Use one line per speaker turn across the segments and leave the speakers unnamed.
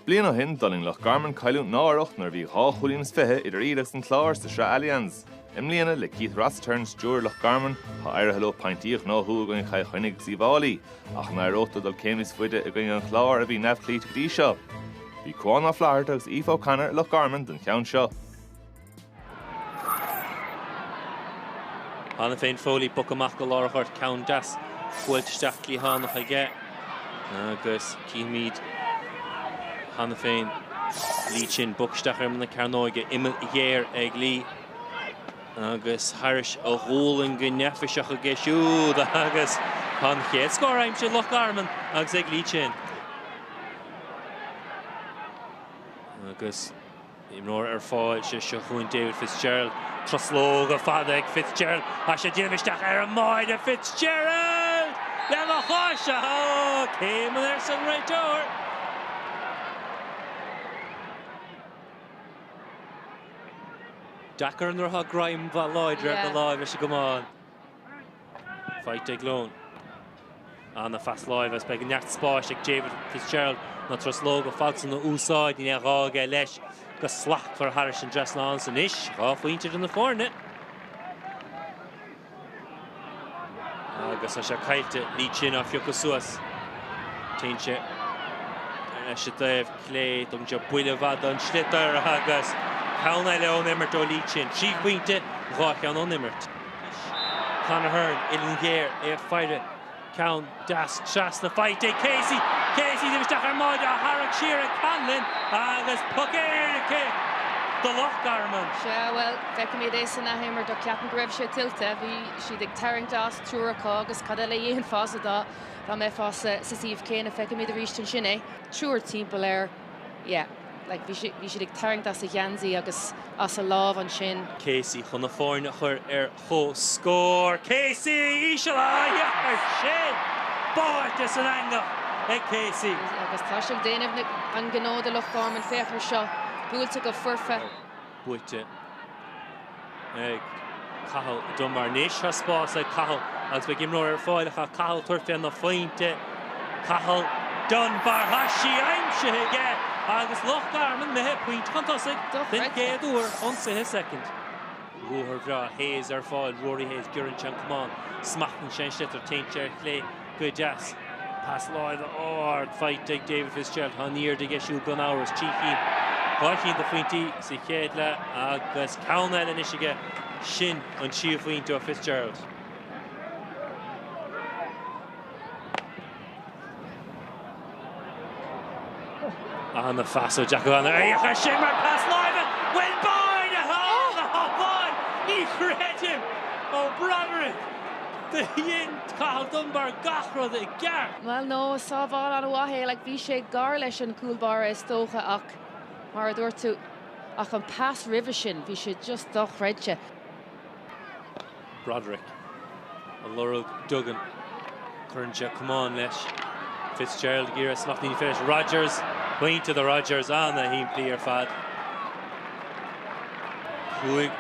Bliain ó shin, d'fhulaing Loch Garman cailliúint náireach nuair a bhí dhá chúilín is fiche idir iad agus an Clár sa Sraith Allianz. I mbliana, le Keith Rossiter ina stiúir ar Loch Garman, tá éirithe leo pointí a ghnóthú i gcoinne Chill Chainnigh agus Uíbh Fháilí, ach an éireodh leo dul céim níos faide i gcoinne an Chláir, a bhí neamhchloíte go dtí seo. Bhí Cuán Ó Flatharta agus Aoife O'Connor i Loch Garman don cheann seo.
Cheana féin Foley bogtha amach go lár an ghoirt, ceann deas buailte isteach cliathánach aige agus címid cheana féin Lee Chin bogtha isteach ar imeall na cearnóige, uillinn ghéar ag Lee agus thar a ghualainn go neafaiseach aige siúd agus tá an chéad scór aimsithe ag Loch Garman agus ag Lee Chin. Agus Imreoir ar fáil sé seo chugainn David Fitzgerald. Truslóga fada ag Fitzgerald is é ag déanamh isteach ar an mbáire. Fitzgerald lena chois! Ahá! Céimeanna arsa an réiteoir. Deacair an rogha greim mhaith láidre ar na láimhe seo go mall. Faighte ag Lohan. Ana phas láimhe is beidh neart spáis ag David Fitzgerald na truslóga fada san a úsáid, ní raibh gá aige leis go slachtmhar thar an dtrasnán is anois dhá phointe idir na foirne. Agus tá sé caillte, Lee Chin á phiocadh suas. Téann sé ar ais ar an dtaobh clé, tugann sé buille fada don sliotar agus ceann eile ón imirt ó Lee Chin. Trí phointe, dhá cheann ón imirt. Anois Conor Hearne, uillinn ghéar, é ag faire, ceann deas trasna, faighte ag Casey, Casey déanamh isteach ar an mbáire, á tharrac siar ag Conlon agus poc éirice ag Loch Garman. Sea,
bhuel, feicimid é san athimirt ach ceapaim go raibh sé tuillte. Bhí siad ag tarraingt as, triúr acu, agus cad eile a dhéanfása dá mbeifeá sa suíomh céanna? Feicimid arís ansin é, triúr timpeall air. yeah like bhí siad bhí siad ag tarraingt as a gheansaí agus as a lámh ansin. Casey chun na foirne
a chur ar comhscór. Casey! Íseal isteach ar sé! Báite san eangach ag Casey. Agus tá sé ag
déanamh an ghnó do Loch Garman. Féach ar seo. Buailte go foirfe.
buaite ag Cathal Dunbar anois. Tá spás ag Cathal agus beidh imreoir ar fáil ach tá Cathal ag tabhairt fé na pointí. Cathal Dunbar, tá sí aimsithe aige agus Loch Garman imithe pointe chun tosaigh den chéad uair ón 20ú soicind. Ruathar breá Hayes ar fáil, Rory Hayes, giorann sé an camán, smachtann sé an sliotar, téann sé ar chlé, go deas. Pas láimhe ard faighte ag David Fitzgerald. Tá an airde aige siúd gan amhras. Trí chinn, dhá chinn de phointí sa chéad leath agus ceann eile anois aige. Sin an tríú pointe ó Fitzgerald. An-phas ó Jack O'Connor féach air sin mar pas láimhe? Bhuel, báire atá ann a shábháil, ní chreidim! Ó Broderick, Do dhein Cathal Dunbar gach rud i gceart. Bhuel, no,
sábháil an-mhaith é, like, bhí sé gar leis an gcúl báire is dócha ach, mar a dúirt tú, ach an pas roimhe sin, bhí sé just dochreidte.
Broderick, ag lorg Duggan, cuireann sé camán leis, Fitzgerald ag iarraidh smachtú, ní féidir leis, Rodgers, pointe do Rodgers an-shimplí ar fad. Cúig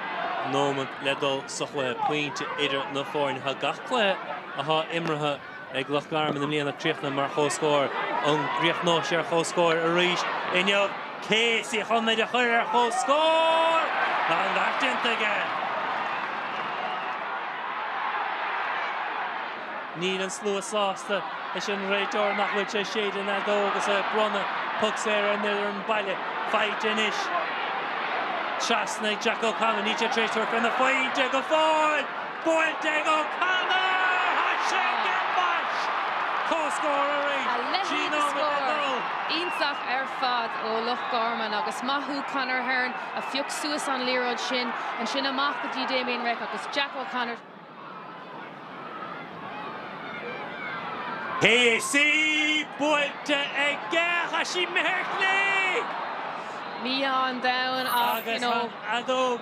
nóiméad le dul sa chluiche, pointe idir na foirne. Tá gach cluiche atá imeartha ag Loch Garman i mbliana críochnaithe mar chomhscór. An gcríochnóidh sé ar comhscór arís inniu? Casey chun iad a chur ar comhscór! Tá an beart déanta aige! Níl an slua sásta leis an réiteoir nach bhfuil sé ag séideadh an fheadóg agus é ag bronnadh poc saor ar an fhoireann baile. Faighte anois trasna ag Jack O'Connor. Níl sé tar éis tabhairt faoin phointe go fóill! Buailte ag O'Connor thar Shane ar dheis. Comhscór arís. A leithéid de
scór! Iontach ar fad ó Loch Garman agus maith thú Conor Hearne a phioc suas an liathróid sin. Ansin amach go dtí Damien Reck agus Jack
O'Connor. Casey, buailte aige tá sé imithe ar chlé!
Mí-ádh an domhain ach, you know.